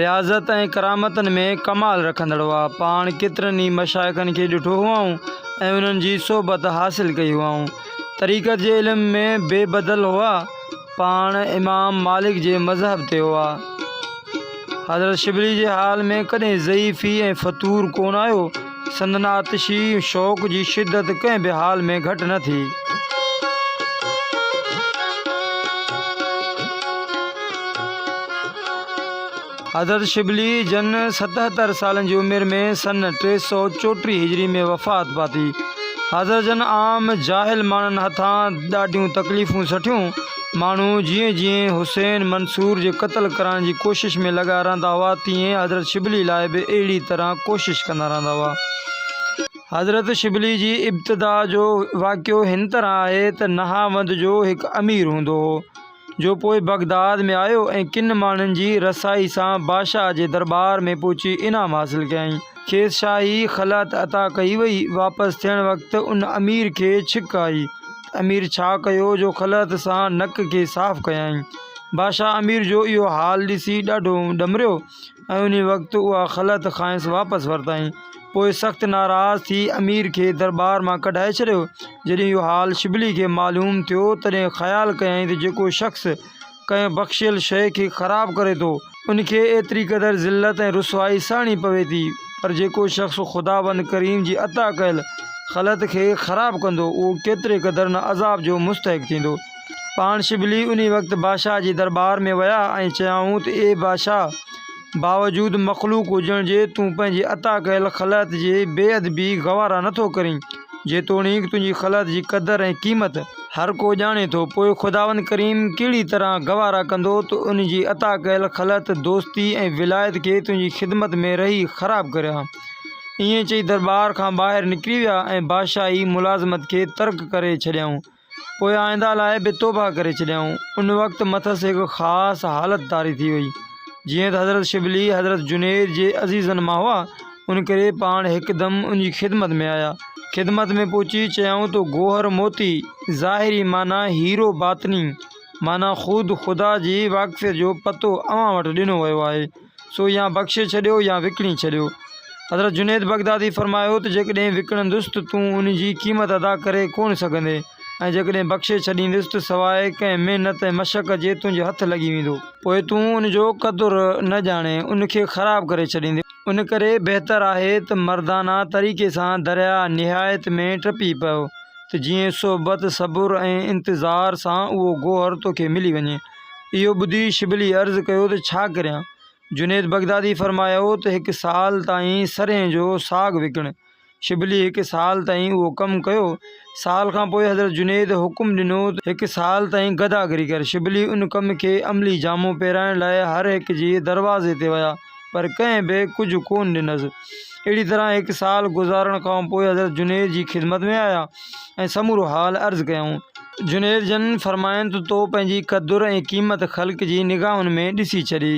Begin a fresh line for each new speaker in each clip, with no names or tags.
رياضت ۽ ڪرامتن ۾ ڪمال رکندڙ هئا. پاڻ ڪيترن ئي مشائخن کي ڏٺو هئائون ۽ انهن جي صحبت حاصل ڪئي هئائون. طريقت جي علم ۾ بي بدل هئا. پاڻ امام مالڪ جي مذهب تي هئا. حضرت شبلي جي حال ۾ ڪڏهن ضعيفي ۽ فتور ڪونه آيو. سندن آتشي شوق جي شدت ڪنهن به حال ۾ گهٽ نه ٿي. حضرت شبلي جن ستهتر سالن جي عمر ۾ سن ٽي سؤ چوٽيهه هجري ۾ وفات پاتي. حضرت جن عام جاهل ماڻهن هٿان ڏاڍيون تڪليفون سٺيون. ماڻهو جيئن جيئن حسين منصور جي قتل ڪرڻ جي ڪوشش ۾ لڳا رهندا هئا تيئن حضرت شبلي لاء به اهڙي طرح ڪوشش ڪندا رهندا هئا. حضرت شبلي جي ابتدا جو واقعو هن طرح آهي ته نهاوند جو هڪ امير هوندو هو جو پوء بغداد ۾ آيو ۽ ڪن ماڻهن جي رسائي سان بادشاهه جي درٻار ۾ پهچي انعام حاصل ڪيائين. کيس شاهي خلعت عطا ڪئي وئي. واپس ٿيڻ وقت ان امير کي ڇڪ آئي. امير ڇا ڪيو جو خلعت سان نڪ کي صاف ڪيائين. بادشاهه امير جو اهو حال ڏسي ڏاڍو ڏمريو ۽ انهي وقت اها خلعت کانئس واپس ورتائين. پوء سخت ناراض ٿي امير کي درٻار مان ڪڍائي ڇڏيو. جڏهن اهو حال شبلي کي معلوم ٿيو تڏهن خيال ڪيائين ته جيڪو شخص ڪنهن بخشيل شيء کي خراب ڪري ٿو، ان کي ايتري قدر ذلت ۽ رسوائي سهڻي پوي ٿي، پر جيڪو شخص خداوند ڪريم جي عطا ڪيل خلعت کي خراب ڪندو، اهو ڪيتري قدر نه عذاب جو مستحق ٿيندو. پاڻ شبلي انهي وقت بادشاهه جي درٻار ۾ ويا ۽ چيائون ته اي بادشاهه! باوجود مخلوق هجڻ جي تون پنهنجي عطا ڪيل خلعت جي بي ادبي گوارا نه ٿو ڪرين، جيتوڻيڪ تنهنجي خلعت جي قدر ۽ قيمت، هر ڪو ڄاڻي ٿو، پوء خداوند ڪريم ڪهڙي طرح گوارا ڪندو ته ان جي عطا ڪيل خلعت، دوستي ۽ ولايت کي تنهنجي خدمت ۾ رهي خراب ڪريان. ائين چئي درٻار کان ٻاهر نڪري ويا ۽ بادشاهي ملازمت کي ترڪ ڪري ڇڏيائون. پوء آئنده لاء به توبهه ڪري ڇڏيائون. ان وقت مٿس هڪ خاص حالت طاري ٿي وئي. جيئن ته حضرت شبلي حضرت جنيد جي عزيزن مان هئا، ان ڪري پاڻ هڪدم ان جي خدمت ۾ آيا. خدمت ۾ پهچي چيائون ته گوهر موتي، ظاهري معنيٰ هيرو باطني معنيٰ خود خدا جي واقفيت جو پتو اوهان وٽ ڏنو ويو آهي. سو يا بخشي ڇڏيو يا وڪڻي ڇڏيو. حضرت جنيد بغدادي فرمايو ته جيڪڏهن وڪڻندس ته تون ان جي قيمت ادا ڪري ڪونه سگهندين ۽ جيڪڏهن بخشي ڇڏيندس ته سواء ڪنهن محنت ۽ مشقت جي تنهنجي هٿ لڳي ويندو. پوء تون ان جو قدر نه ڄاڻين، ان کي خراب ڪري ڇڏيندين. ان ڪري بهتر آهي ته مردانه طريقي سان درياء نهايت ۾ ٽپي پئو ته جيئن صحبت، صبر ۽ انتظار سان اهو گوهر توکي ملي وڃي. اهو ٻڌي شبلي عرض ڪيو ته ڇا ڪريان؟ جنيد بغدادي فرمايو ته هڪ سال تائين سرهين جو ساڳ وڪڻ. شبلي هڪ سال تائين اهو ڪم ڪيو. سال کان پوء حضرت جنيد حڪم ڏنو ته هڪ سال تائين گداگري ڪر. شبلي ان ڪم کي عملي جامو پهرائڻ لاء هر هڪ جي دروازي تي ويا. پر ڪنهن به ڪجهه ڪونه ڏنس. اهڙي طرح هڪ سال گذارڻ کان پوء حضرت جنيد جي خدمت ۾ آيا ۽ سمورو حال عرض ڪيائون. جنيد جن فرمايائين ته تو پنهنجي قدر ۽ قيمت خلق جي نگاهن ۾ ڏسي ڇڏي،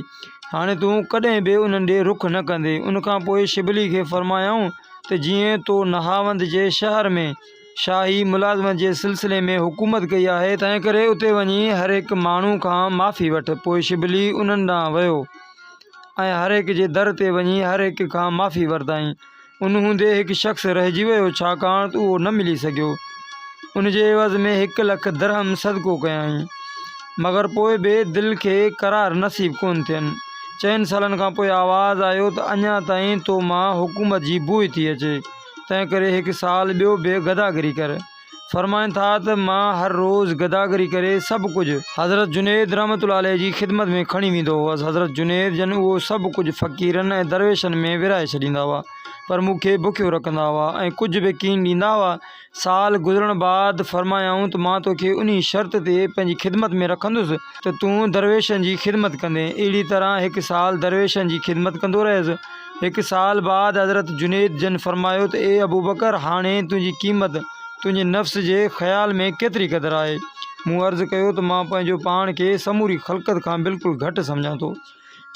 هاڻي تون ڪڏهن به انهن ڏي رخ نه ڪندي. ان کان پوء شبلي کي فرمايائون ته جيئن تو نهاوند جي شهر ۾ شاهي ملازمت جي سلسلي ۾ حڪومت ڪئي آهي، تنهنڪري اتي وڃي هر هڪ ماڻهو کان معافي وٺ. پوء شبلي انهن ڏانهن ويو. ۽ هر هڪ جي در تي وڃي هر هڪ کان معافي ورتائين. ان هوندي هڪ شخص رهجي ويو ڇاڪاڻ ته اهو نه ملي سگهيو. ان جي عيوض ۾ هڪ لک درهم صدقو ڪيائين. مگر پوء به دل کي قرار نصيب ڪونه ٿين. چئن سالن کان پوء آواز آيو ته اڃا تائين تو مان حڪومت جي بوء ٿي اچي، تنهنڪري هڪ سال ٻيو به گداگري ڪر. فرمائن ٿا ته مان هر روز گداگري ڪري سڀ ڪجهه حضرت جنيد رحمة الله عليه جي خدمت ۾ کڻي ويندو هئس. حضرت جنيد جن اهو سڀ ڪجهه فقيرن ۽ درويشن ۾ ورهائي ڇڏيندا هئا پر مون کي بکيو رکندا هئا ۽ ڪجهه به ڪين ڏيندا هئا. سال گذرڻ بعد فرمايائون ته مان توکي انهي شرط تي پنهنجي خدمت ۾ رکندس ته تون درويشن جي خدمت ڪندين. اهڙي طرح هڪ سال درويشن جي خدمت ڪندو رهيس. هڪ سال بعد حضرت جنيد جن فرمايو ته اي ابوبڪر! هاڻي تنهنجي قيمت تنهنجي نفس جي خيال ۾ ڪيتري قدر آهي؟ مون عرض ڪيو ته مان پنهنجو پاڻ کي سموري خلقت کان بلڪل گهٽ سمجهان ٿو.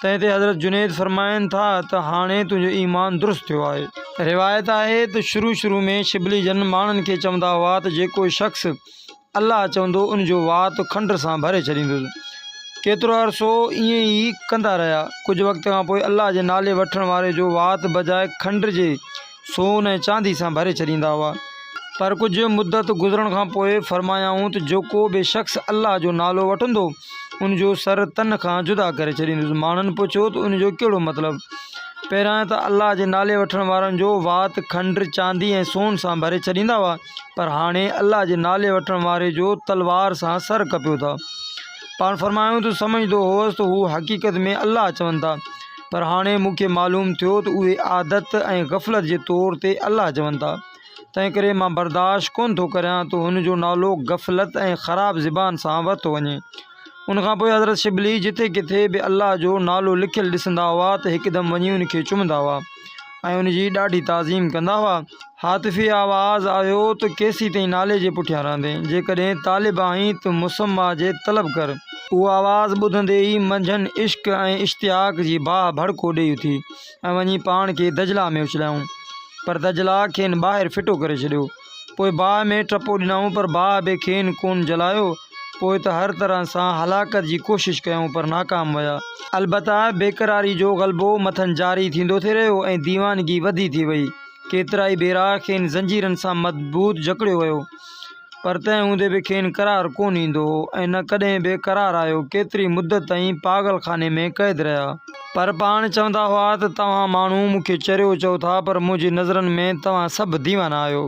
تنهن تي حضرت جنيد فرمائن ٿا ته هاڻي تنهنجو ايمان درست ٿيو آهي. روايت آهي ته شروع شروع ۾ شبلي جن ماڻهن کي چوندا هئا ته جيڪو شخص الله چوندو ان جو وات کنڊ سان ڀري ڇڏيندس. ڪيترو عرصو ائين ئي ڪندا رهيا. ڪجهه وقت کان پوء الله جي نالي وٺڻ واري جو وات بجاء کنڊ جي سون ۽ چاندي سان ڀري ڇڏيندا هئا. پر ڪجهه مدت گذرڻ کان پوء فرمايائون ته جيڪو به شخص الله جو نالو وٺندو ان جو سر تن کان جدا ڪري ڇڏيندس. ماڻهن پڇيو ته ان جو ڪهڙو مطلب؟ پهريائين ته الله جي نالي وٺڻ وارن جو وات کنڊ، چاندي ۽ سون سان ڀري ڇڏيندا هئا. پر هاڻي الله جي نالي وٺڻ واري جو تلوار سان سر ڪپيو ٿا. پاڻ فرمايائون ته سمجهندو هوس ته هو حقيقت ۾ الله چون ٿا، پر هاڻي مون کي معلوم ٿيو ته اهي عادت ۽ غفلت جي طور تي الله چون ٿا، تنهنڪري مان برداشت ڪونه ٿو ڪريان ته هن جو نالو غفلت ۽ خراب زبان سان ورتو وڃي. ان کان پوء حضرت شبلي جتي ڪٿي به الله جو نالو لکيل ڏسندا هئا ته هڪدم وڃي ان کي چمندا هئا ۽ ان جي ڏاڍي تعظيم ڪندا هئا. هاتفي آواز آيو ته ڪيسي تائين نالي جي پٺيان رهندين؟ جيڪڏهن طالب آهين ته مسميٰ جي طلب ڪر. اهو آواز ٻڌندي ئي منجهن عشق ۽ اشتياق جي باهه ڀڙڪو ڏيئي اٿي ۽ وڃي پاڻ کي دجله ۾ اڇلايائون. پر دجله کين ٻاهر ڦٽو ڪري ڇڏيو. پوء باهه ۾ ٽپو ڏنائون پر باهه به کين ڪونه جلايو. پوء ته هر طرح سان هلاڪت جي ڪوشش ڪيائون پر ناڪام ويا. البته بيقراري جو غلبو مٿن جاري ٿيندو ٿي رهيو ۽ ديوانگي وڌي ٿي وئي. ڪيترائي ڀيرا کين زنجيرن سان مضبوط جڪڙيو ويو پر تنهن هوندي به کين قرار ڪونه ايندو هو ۽ نه ڪڏهن به قرار آيو. ڪيتري مدت تائين پاڳل خاني ۾ قيد رهيا. پر پاڻ چوندا هئا ته توهان ماڻهو مون کي چريو چئو ٿا پر منهنجي نظرن ۾ توهان سڀ ديوانا آهيو.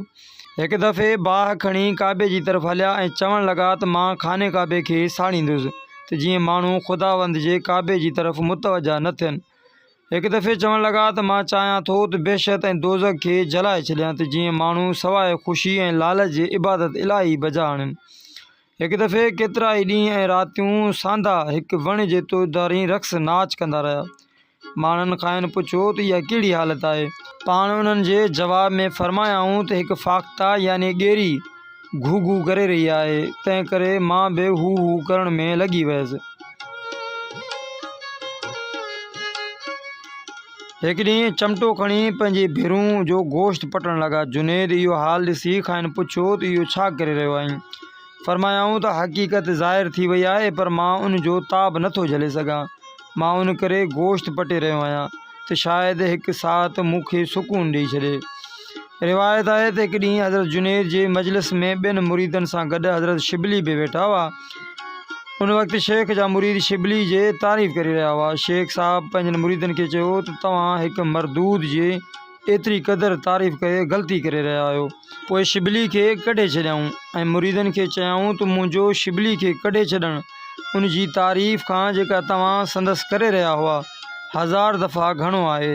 هڪ دفعي باهه کڻي ڪعبي جي طرف هليا ۽ چوڻ لڳا ته مان خانه ڪعبي کي ساڙيندس ته جيئن ماڻهو خداوند جي ڪعبي جي طرف متوجهه نه ٿين. هڪ دفعي چوڻ لڳا ته مان چاهيان ٿو ته بهشت ۽ دوزخ کي جلائي ڇڏيان ته جيئن ماڻهو سواء خوشي ۽ لالچ جي عبادت الاهي بجا آڻين. هڪ دفعي ڪيترائي ڏينهن ۽ راتيون ساندا هڪ وڻ جي تودارين رقص ناچ ڪندا رهيا. ماڻهن کانئن پڇيو ته اها ڪهڙي حالت آهي؟ پاڻ انهن جي جواب ۾ فرمايائون ته هڪ فاخته يعني ڳيري گهو گهو ڪري رهي آهي، تنهن ڪري مان به هو هو ڪرڻ ۾ لڳي ويس. هڪ ڏينهن چمٽو کڻي پنهنجي ڀيرون جو گوشت پٽڻ لڳا. جنيد اهو حال ڏسي کانئن پڇيو ته اهو ڇا ڪري رهيو آهين؟ فرمايائون ته حقيقت ظاهر ٿي وئي آهي پر مان ان جو تاب نٿو جهلي سگهان. مان ان ڪري گوشت پٽي رهيو آهيان ته شايد هڪ ساعت مون کي سڪون ڏئي ڇڏي. روايت آهي ته هڪ ڏينهن حضرت جنيد جي مجلس ۾ ٻين مريدن سان گڏ حضرت شبلي به ويٺا هئا. ان وقت شيخ جا مريد شبلي جي تعريف ڪري رهيا هئا. شيخ صاحب پنهنجن مريدن کي چيو ته توهان هڪ مردود جي ايتري قدر تعريف ڪري غلطي ڪري رهيا آهيو. پوء شبلي کي ڪڍي ڇڏيائون ۽ مريدن کي چيائون ته منهنجو شبلي کي ڪڍي ڇڏڻ ان جي تعريف کان جيڪا توهان سندس ڪري رهيا هئا هزار دفعا گهڻو آهي.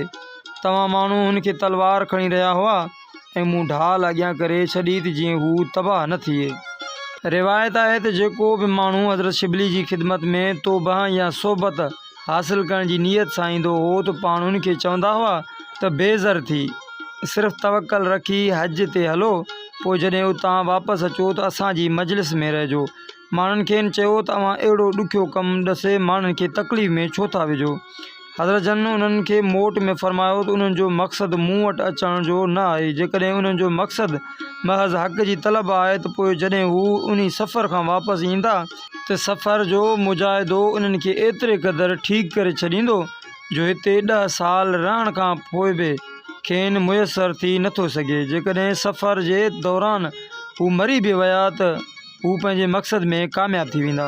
توهان ماڻهو هن کي تلوار کڻي رهيا هئا ۽ مون ڍال اڳيان ڪري ڇڏي ته جيئن هو تباهه نه ٿئي. روايت آهي ته جيڪو به ماڻهو حضرت شبلي جي خدمت ۾ توبه يا صحبت حاصل ڪرڻ جي نيت سان ايندو هو ته پاڻ هن کي چوندا هئا ته بي زر ٿي، صرف توڪل رکي حج تي هلو، پوء جڏهن اتان واپس اچو ته اسان جي مجلس ۾ رهجو. ماڻهن کين چيو ته اوهان اهڙو ڏکيو ڪم ڏسي ماڻهن کي تڪليف ۾ ڇو ٿا وجهو؟ حضرت جن انهن کي موٽ ۾ فرمايو ته انهن جو مقصد مون وٽ اچڻ جو نه آهي، جيڪڏهن انهن جو مقصد محض حق جي طلب آهي ته پوء جڏهن هو انهي سفر کان واپس ايندا، ته سفر جو مجاهدو انهن کي ايتري قدر ٺيڪ ڪري ڇڏيندو جو هتي ڏهه سال رهڻ کان پوء به کين ميسر ٿي نه ٿو سگهي، جيڪڏهن سفر جي دوران هو مري به ويا ته. هو پنهنجي مقصد ۾ ڪامياب ٿي ويندا.